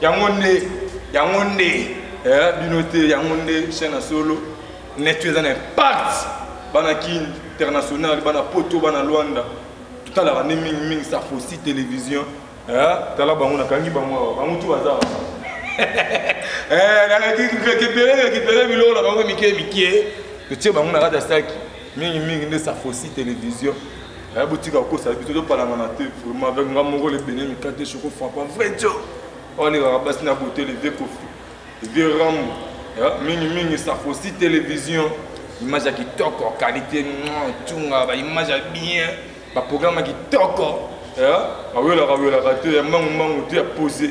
yango nde yango nde eh, bino te yango nde chaîne ya solo netu eza na impact bana ki international bana poto bana luanda totalaka nde mingi mingi safosi télévision eh, tala bango nakangi bango awa bango tu baza eh, récupéré récupéré biloko na bango mike mike totie bango na kati ya saki mingi mingi nde safosi télévision aya botika kokosa biso topalangana te vraiment avec nga moko le bene mikate choko frappa vrai jo olekaka basi na bote le vieux kofi le vieux rambo mingi mingi safosi télévision image ya kitoko qualité tunga baimage ya bien baprogramme ya kitoko awelaka welaka te ya mbangu mbangu te ya pose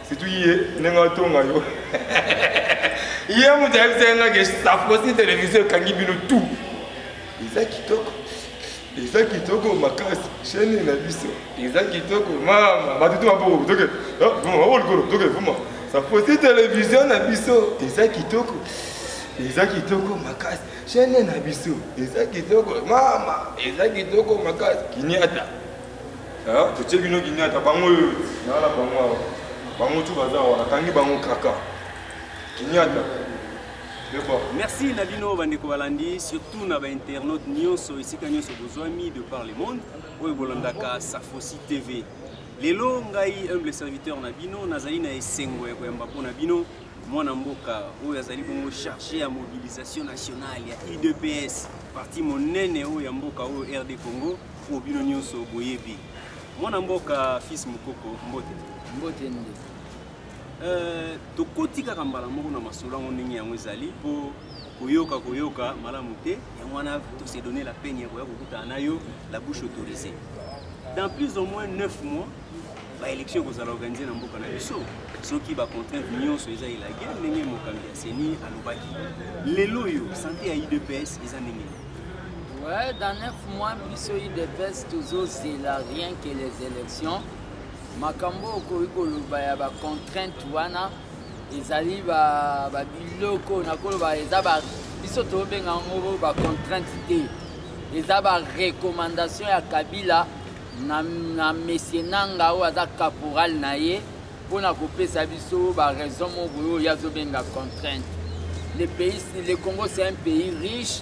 surtout ye ndenge atonga yo ye moto ayebisaki nga ke safosi televizio ekangi bino tout eza kitoko eza kitoko makasi chaine na biso eza kitoko mama batutu maboko toke maboko likolo toke vuma safosi televizio na biso eza kitoko eza kitoko makasi chaine na biso eza kitoko mama eza kitoko makasi kiniata Ah, totie bino ginyata bango oyo nala bango awa bango tu baza awa nakangi bango kaka ginyata merci na bino bandeko balandi surtout na bainternaute nyonso esika nyonso bozwami de par le monde oyo bolandaka safosi tv lelo ngai humble serviteur na bino nazali na esengo ya koyamba mpo na bino mwana mboka oyo azali bongo charge ya mobilisation nationale ya udps parti monene oyo ya mboka oyo rd congo Pour bino nyoso boyebi. Mwana mboka fils mukoko mbote. Mbote nde. Euh, tokoti kaka mbala moko na masolo yango ndenge yango ezali mpo koyoka koyoka malamu te yango wana tose donne la peine ya koya kokutana na yo la bouche autorisée dans plus au moins 9 mois baélection ekozala organise na mboka na biso soki bacontrainte nyonso eza elage ndenge mokambi ya seni alobaki lelo oyo sante ya idps eza ndenge Ouais, dans neuf mois, biso IDPS toujours zela rien que les élections. Makambo okoki koloba ya ba contrainte wana ezali ba ba biloko nakoloba eza ba biso tobenga yango ba contrainte te eza ba recommandation ya Kabila na, na mesie nanga oyo aza caporal na ye mpo na kopesa biso baraison moko boye oyo ye azobenga contrainte le pays le congo c'est un pays riche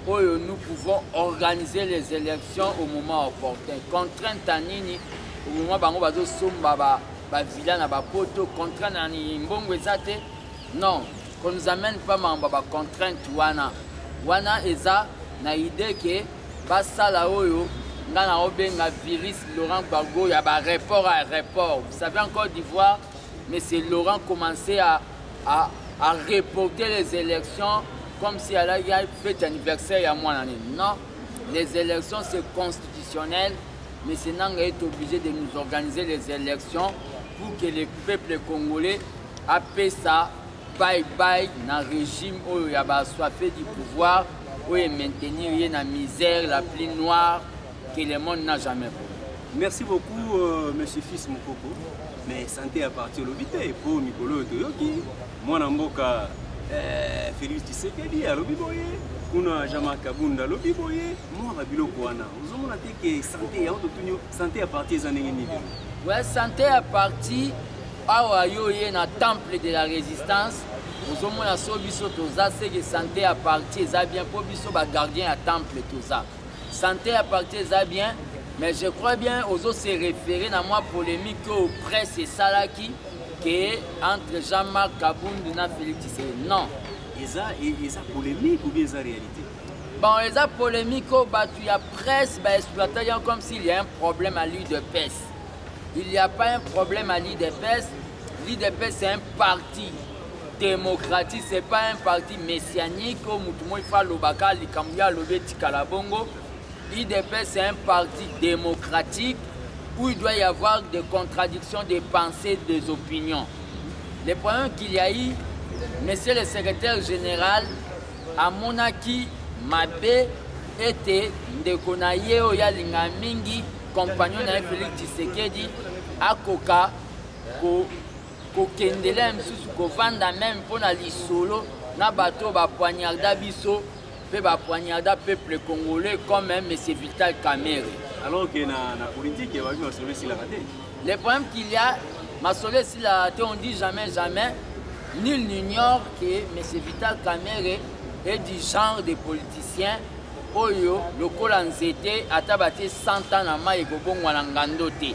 oyo nous pouvons organiser les élections au moment opportun contrainte ya nini au moment bango bazosomba bavilla na bapoto contrainte na nini mbongo eza te non qu'on nous amène pas mambo ya bacontrainte wana wana eza na idée ke basala oyo nga na obenga virus laurent gbago ya ba report à report vous savez en côte d'ivoire monsieur laurent commençait à, à, à reporter les élections comme si alaki fete anniversaire ya mwana nini non les élections c'est constitutionnel monsieur nanga est obligé de nous organiser les élections pour que le peuple congolais apesa bye bye na régime oyo ya baswafe du pouvoir oyo emaintenir ye na misère la plus noire que le monde n'a jamais vu merci beaucoup euh, monsieur fils mokoko mais santé ya parti olobi te mpo mikolo oyo toyoki mwana mboka euh, félix tshisekedi alobi boye kuna jama kabunda alobi boye mwana biloko wana ozomona te ke santé yango totuni santé ya parti eza ndenge nini ouais, santé ya parti awa yo oye na temple de la résistance ozomona so biso toza seke sante ya parti eza bien mpo biso bagardien ya temple toza sante ya parti eza bien mais je crois bien ozo se référer na mwa polémique oyo presse esalaki ke entre jean marc kabundu na félix tshisekedi non eza eza polémique ou bien eza réalité bon eza polémique oyo bato ya presse baexploitaki yango comme s'il y a un problème à l'udps il y a pas un problème à l'udps L'IDPS c'est un parti démocratique, c'est pas un parti messianique oyo motu moi fa alobaka likambo ye alobi etikala bongo. L'IDPS c'est un parti démocratique où il doit y avoir des contradictions des pensées, des opinions. Le problème qu'il y a eu, monsieur le secrétaire général amonaki mabe ete ndeko na ye oyo alinga mingi compagnon na ye Félix Tshisekedi akoka kokendela mosusu kovanda meme mpo na lisolo na bato oyo bapoignarda biso mpe bapoignarda peuple congolais comme monsieur vital camere alors que na, na politique ebabi masolo esilaka te le problème qu'il y a masolo esilaka te on dit jamais jamais nul n'ignore que monsieur vital camere est du genre de politicien oyo lokola nzete ata batie 100 ans na mai ekobongwana ngando te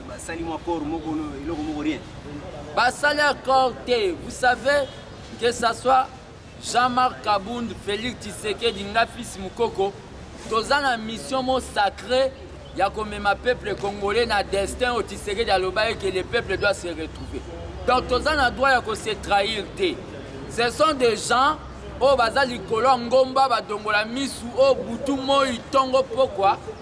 basali mwa corps moko eloko moko rien basali accord te vous savez que ça soit jean-marc kabund félix tshisekedi nga fils mokoko toza na mission mo sacré ya komema peuple congolais na destin oyo tshisekedi alobaki que le peuple doit se retrouver donc toza na droit ya kose trahir te ce sont des gens oyo baza likolo ya ngomba badongola misu oyo butu moi ntongo pokwa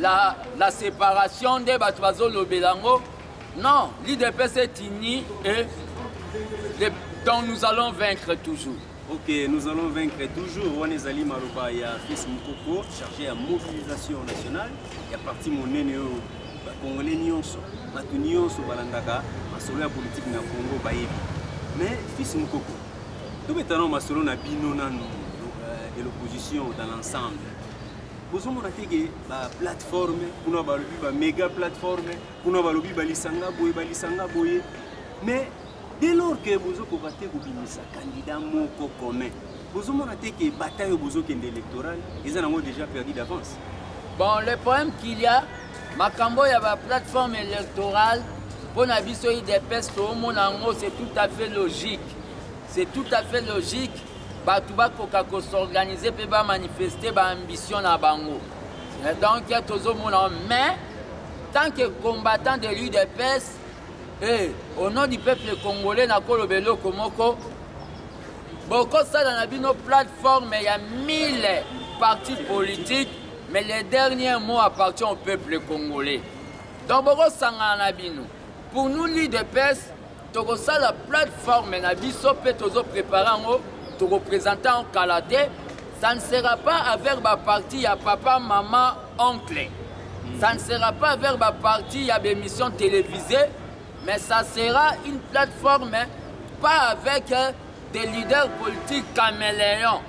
la, la separation nde bato bazolobela yango non l'idps est unie et les, donc nous allons vaincre toujours ok nous allons vaincre toujours wana ezali maloba ya fils mokoko chargé ya mobilisation nationale ya parti monene oyo bakongole nyonso bato nyonso balandaka masolo ya politike na congo bayebi mais fils mokoko tobetana masolo na bino nanu euh, de l'opposition dans l'ensemble bozomona te ke baplateforme kuna balobi bamega plateforme kuna balobi balisanga boye balisanga boye mais dès lors ke bozokoka te kobimisa candidat moko commun bozomona te ke bataille oyo bozokende électoral eza nango déjà perdu d'avance bon le problème qu'il y a makambo ya baplateforme électorale mpo na biso idps toomona yango c'est tout à fait logique c'est tout à fait logique bato bakoka ko s'organiser mpe ba manifester ba ambition na bango eh, donc tozomona mais tant que combattant de l'udps eh, au nom du peuple congolais nakoloba eloko moko bokosala na bino plateforme ya 1000 parti politique mais le dernier mot appartient au peuple congolais donc bokosangana na bino pour nous l'udps tokosala plateforme na biso mpe tozo prépare yango tokopresente yango kala te ça ne sera pas avec baparti ya papa mama oncle hmm. ça ne sera pas avec baparti ya bémission télévisée mais ça sera une plateforme pas avec euh, des leaders politiques caméléons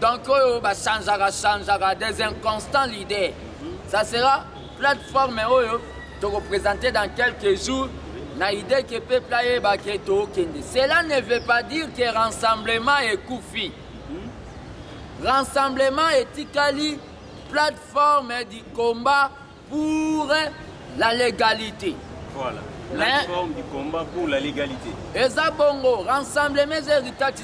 donc oyo bachangeaka changeaka des inconstants leaders hmm. ça sera plateforme oyo tokopresente dans quelques jours na idee ke peuple ayeba ke tokende cela ne veut pas dire ke rassemblement ekufi rassemblement etikali plateforme du combat pour la légalité voilà. plateforme du combat pour la légalité eza bongo rassemblement eza héritage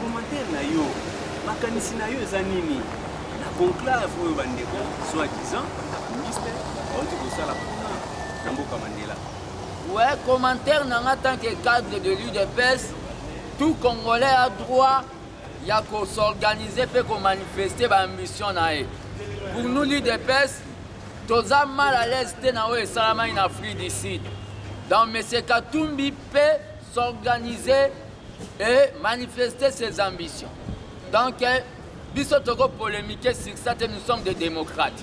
Commentaire na yo, makanisi na yo eza nini na conclave oyo bandeko soit disant ministre bauti kosala kuna na mboka Mandela? Ouais, commentaire na nga tant que cadre de l'UDPS, tout Congolais a droit ya ko s'organiser pe ko manifester ba ambition na ye. Pour nous l'UDPS, toza mal à l'aise te na oyo esalamaki na Afrique du Sud. Donc Monsieur Katumbi pe s'organiser et manifester ses ambitions donc eh, biso toko polémiquer sur ça te nous sommes des démocrates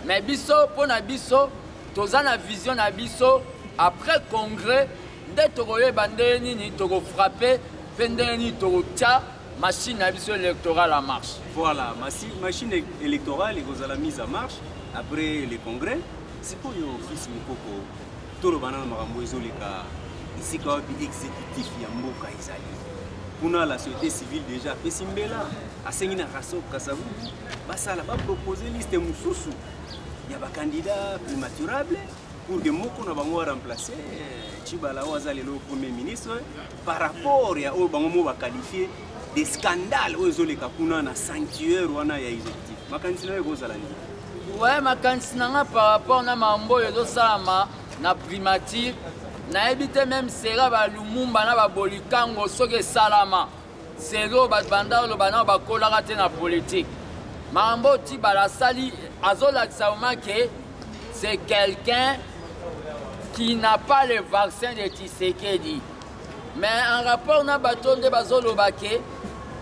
mais biso mpo na biso toza na vision na biso après congrès nde tokoyeba ndenge nini tokofrappe mpe ndenge nini tokotya machine na biso électorale en marche voilà machine électorale ekozala mise en marche après le congrès sikoyo fils mokoko toloba nano makambo ezoleka esika wapi exécutif ya mboka ezali kuna la société civile déjà apesi mbela asengi na raso kasabu basala bapropose liste mosusu ya bakandida primaturable pour que moko na bango aremplace cibala oyo aza lelo premier ministre par rapport ya oyo bango mo baqualifie de scandale oyo ezoleka kuna na sanctuaire wana ya exécutif makanisi nayo ekozala nini we makanisi na nga par rapport na mambo oyo ezosalama na primature nayebi te meme sera balumumba na babolikango soki esalama seri oyo bato banda oloba nao bakolaka te na politike mambo oyo tibala asali azolakisa vraimen ke c'est quelqu'un qui n'a pas le vaccin de tisekedi mais en rapport na bato nde bazoloba ke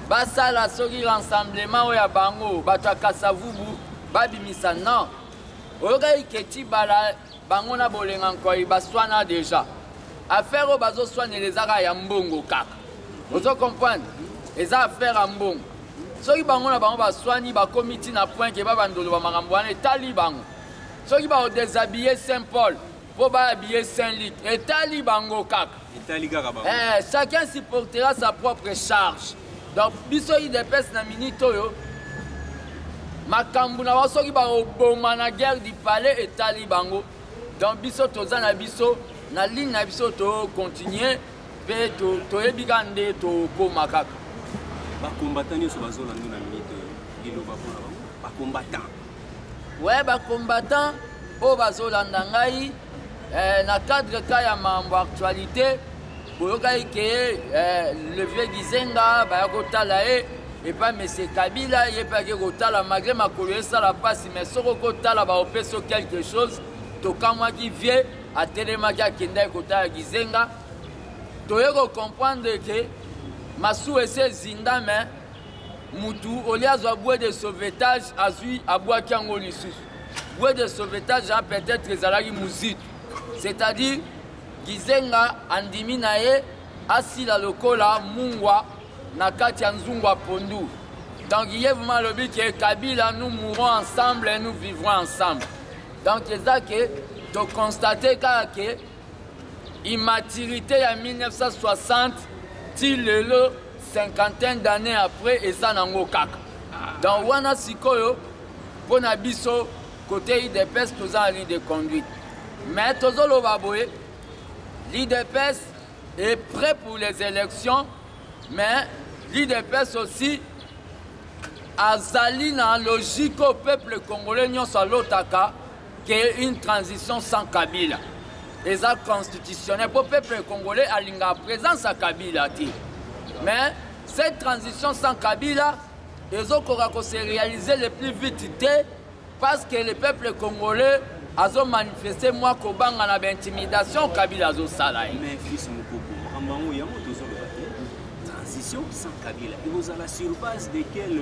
basala soki rassemblement oyo ya bango bato ya kasavubu babimisa non oyokaki keti bala bango na bolenga nkoi baswana deja affaire oyo bazoswanela eza kaka ya mbongo kaka ozo comprendre eza affaire ya mbongo soki bango na bango baswani bakomi ntina point ke babandoloba makambo wana etali bango soki baodesabille saint paul mpo babiye saint lik etali bango kaka etali kaka bango eh, chacun supportera sa propre charge donc biso idps na minute oyo makambo na bango soki bakoboma na guerre du palais etali bango donc biso toza na biso na ligne na biso tocontinue mpe toyebi kaka nde tokóma kaka bakombata nyonso bazolanda na minute liloba mpona bango bakombata we bacombattant oyo bazolanda ngai eh, na cadre ka ya mambo actualité boyokaki ke eh, le vieux gizenga baya kotala ye epai mese kabila ye mpe ake kotala malgre makolo esala mpasi mais soki okotala baopeso quelque chose tokamwaki vie atelemaki akendaki kotala gizenga toye kocomprendre ke masuwa esi ezinda mais mutu olie azwa bue de sauvetage azwi abwaki yango lisusu bue de sauvetage a peut-être ezalaki muzitu c'est-à-dire gizenga andimi na ye asila lokola mungwa na kati ya nzungu ya pondu donc ye vraimen alobi ke kabila nous mourons ensemble et nous vivrons ensemble donc eza ke tokonstate kaka ke immaturité ya 1960 ti lelo cinquantaine d'année après eza nango kaka donc wana sikoyo mpo na biso kote idps toza na ligne de conduite mais tozoloba boye l'idps est prêt pour les élections mais l'idps aussi azali na logique oyo peuple congolais nyonso alotaka que une transition sans kabila eza constitutionnel mpo peuple congolais alingaka présence ya kabila te mais cette transition sans kabila ezokoka kose réaliser le plus vite te parce que le peuple congolais azomanifeste mwa kobanga na baintimidation kabila azosala ye transition sans kabila ekozala sur base de quel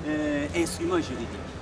euh, instrument juridique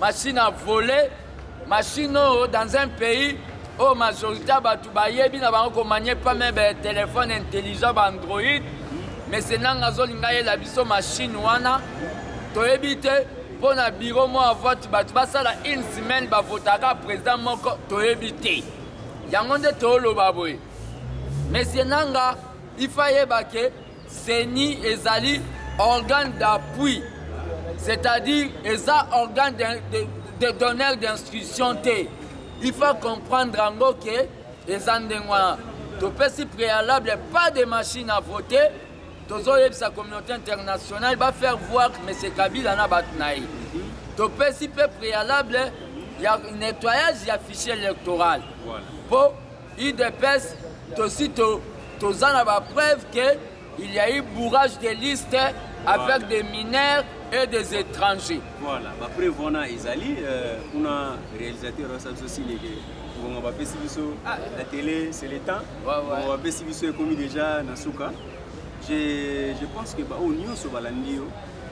Machine à voler, machine oyo dans un pays oyo majorité ya bato bayebi na bango komanye pame ba telefone intelligent ba android mese nanga azolinga yela biso machine wana toyebi te mpo na biro moko ya vote bato basala une semaine bavotaka président moko toyebi te yango nde tooloba boye mesie nanga ifa yeba ke Ceni ezali organe d'appui, c'est-à-dire eza organe de, de, de donneur d'instruction te. Il faut comprendre yango ke eza ndenge wana. Topesi préalable pas de machine à voter. Tozoyebisa communauté internationale ba faire voir que M. Kabila na bato na ye. Topesi mpe préalable ya nettoyage ya fichier électoral. Voilà. Po udps tosi toza na ba preuve que il y a eu bourrage de liste avec des mineurs et des étrangers voilà ba preuve wana ezali euh, kuna réalisateur osa biso sileke ngonga bapesi biso ah. la télé c'est le temps ngonga bapesi biso ekomi déjà na suka je pense que baoyo nyonso balandi yo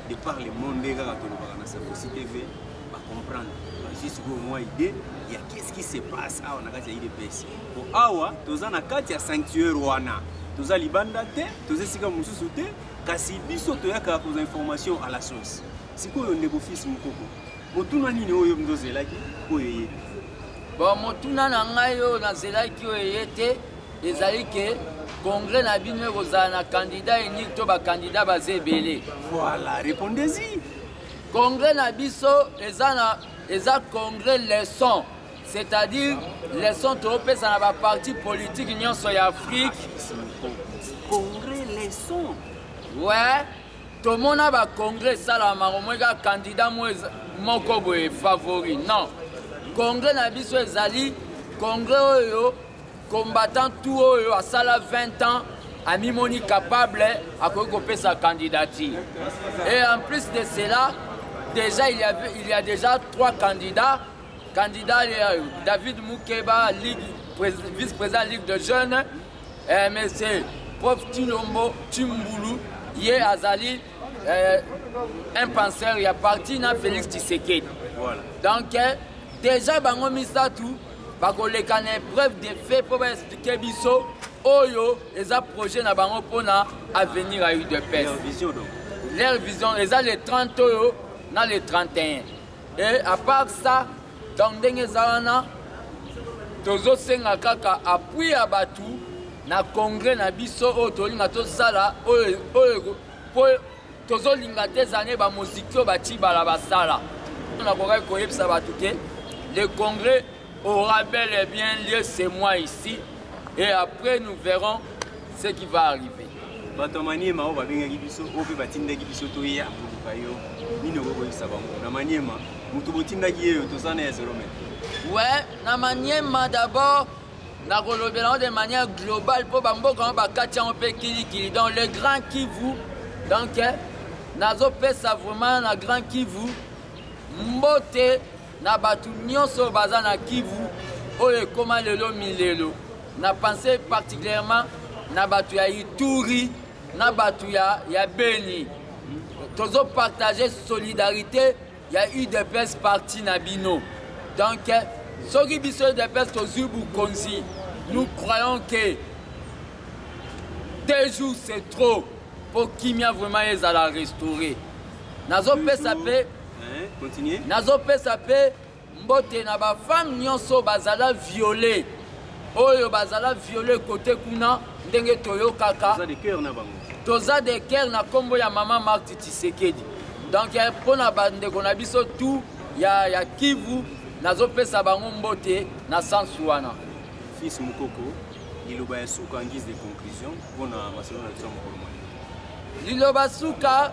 de par le monde nde kaka tolobaka na sakosi tv ba comprendre bazwi sikoyo mwa idée ya qu'est-ce qui se passe awa na kati ya idps po awa toza na kati ya sanctuaire wana toza libanda te toza esika mosusu te kasi biso toyaka kozwa information à la source sikoyo ndeko fils mokoko motuna nini oyo mzo ozelaki oyo eye te bon motuna na ngai oyo nazelaki oyo eye te ezali ke congrès na bino ekozala na candidat eniki to bakandida baza ebele voilà répondez-y Congrès na biso eza na eza congrès leçon c'est-à-dire leçon topesa na baparti politique nyonso ya afrique congrès leçon ouais tomona bacongrès esalama omoi kaka candidat moko boye favori non congrès na biso ezali congrès oyo Combattant tout oyo asala 20 ans amimoni capable akoki kopesa candidature et en plus de cela déjà il y, avait, il y a déjà trois candidats candidat euh, david mukeba ligue, vice président ligue de jeunes euh, monsieur prof tilombo timbulu ye azali euh, un penseur ya parti na félix tshisekedi voilà. donc euh, déjà bango misato bakoleka na épreuve de fait mpo baexplike biso oyo eza projet na bango mpo na avenir ya udps leur vision eza le 30 oyo na le 31 e à part ça donc ndenge eza wana tozosenga kaka appui ya bato na congrès na biso oyo tolinga tosala oyo tozolinga te zane bamoziki oyo batibala basala nakokaki koyebisa bato te le congrès aura bel et bien lieu ce mois ici et après nous verrons ce qui va arriver bato ya maniema oyo babengaki biso oyo mpe batindaki biso toya koluka yo nini okoki koyebisa bango na maniema moto botindaki yeyo toza na ya zelome we na maniema d'abord nakolobela yango de manière globale mpo bamboka yango bakati yango mpe kilikili donc le grand kivu donc eh, nazopesa vraiment na grand kivu mbote na bato nyonso baza na kivu oyo ekóma lelo milelo na pense particulièrement na bato ya ituri na bato ya, ya beni tozopartage solidarité ya udps parti na bino donc soki biso udps tozwi bokonzi nous croyons que deux jours c'est trop mpo kimia vraiment ezala restauré nazopesa mpe nazopesa mpe Mbote na ba femme nionso bazala viole oyo bazala viole kote kuna ndenge toyokaka toza de cœur na kombo ya mama Marthe Tshisekedi donc eh, mpo na bandeko na biso tout ya, ya Kivu nazopesa bango mbote na sensu wana fils mokoko liloba ya suka en guise de conclusion mpo na masolo na biso ya mokolo liloba suka